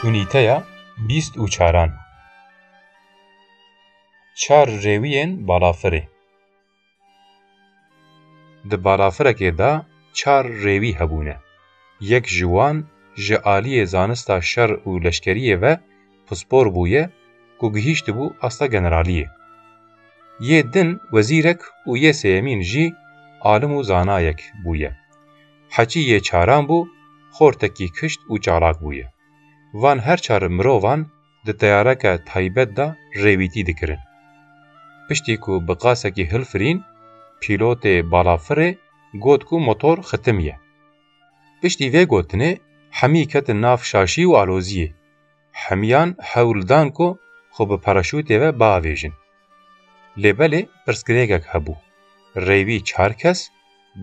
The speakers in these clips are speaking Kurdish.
Unîteya bîst û çaran Çar rêwiyên balafirê Di balafirekê de çar rêwî hebûne. Yek ji wan ji aliyê zanista şer û leşkeriyê ve pispor bûye ku gihîştibû asta generaliyê. Yê din wezîrek û yê sêyemîn jî alim û zanayek bûye. Hecî yê çaran bû, xortekî kişt û çalak bûye. Van her çar mirovan di teyareke taybet de rêwîtî dikirin. Piştî ku bi qasekî hilfirîn, pîlotê balafirê got ku motor xitim ye. Piştî vê gotinê hemî ketin nav şaşî û aloziyê. hemiyan hewl dan ku xwe bi paraşûtê ve biavêjin. Lê belê pirsgirêkek hebû, rêwî çar kes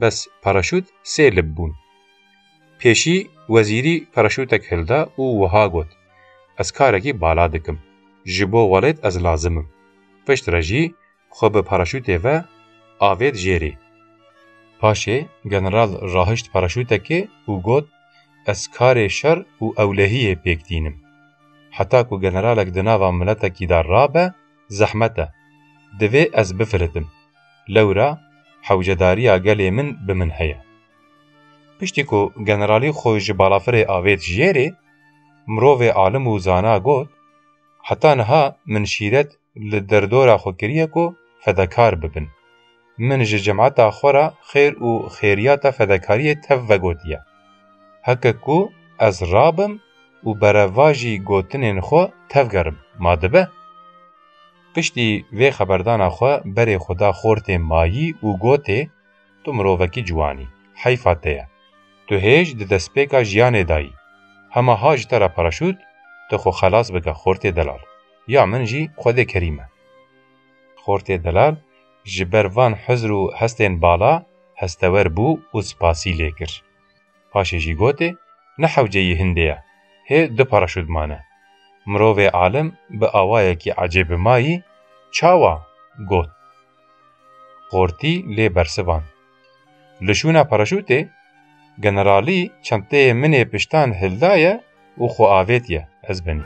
bes paraşût sê lib bûn. Pêşî wezîrî paraşûtek hilda û wiha got, Ez karekî bala dikim. Ji bo welêt ez lazim im. Piştre jî xwe bi paraşûtê ve avêt jêrî. Paşê general rahişt paraşûtekê û got, Ez karê şer û ewlehiyê pêk tînim. Heta ku generalek di nava miletekî de rabe zehmet e. Divê ez bifiritim. Lewra hewcedariya gelê min bi min heye. Piştî ku generalî xwe ji balafirê avêt jêrê, mirovê alim û zana got, Heta niha min şîret li derdora xwe kiriye ku fedakar bibin. Min ji cemata xwe re xêr û xêriyata fedakariyê tev vegotiye. Heke ku ez rabim û berevajî gotinên xwe tevgerim, ma dibe? Piştî vê xeberdana xwe berê xwe da xortê Mayî û gotê, Tu mirovekî ciwan î. Heyfa te ye. Tu hêj di destpêka jiyanê de yî. Hema ha ji te re paraşût, tu xwe xelas bike Xortê Delal. Ya min jî Xwedê kerîm e. Xortê Delal ji ber van hizr û hestên bala hestewer bû û spasî lê kir. Paşê jî gotê, Ne hewceyî hindê ye. Hê du paraşût mane. Mirovê alim bi awayekî ecêb bi ma yî, Çawa? got. Qortî lê bersivan. Li şûna paraşûtê generalî çenteyê min ê piştan hildaye û xwe avêtiye ez binî.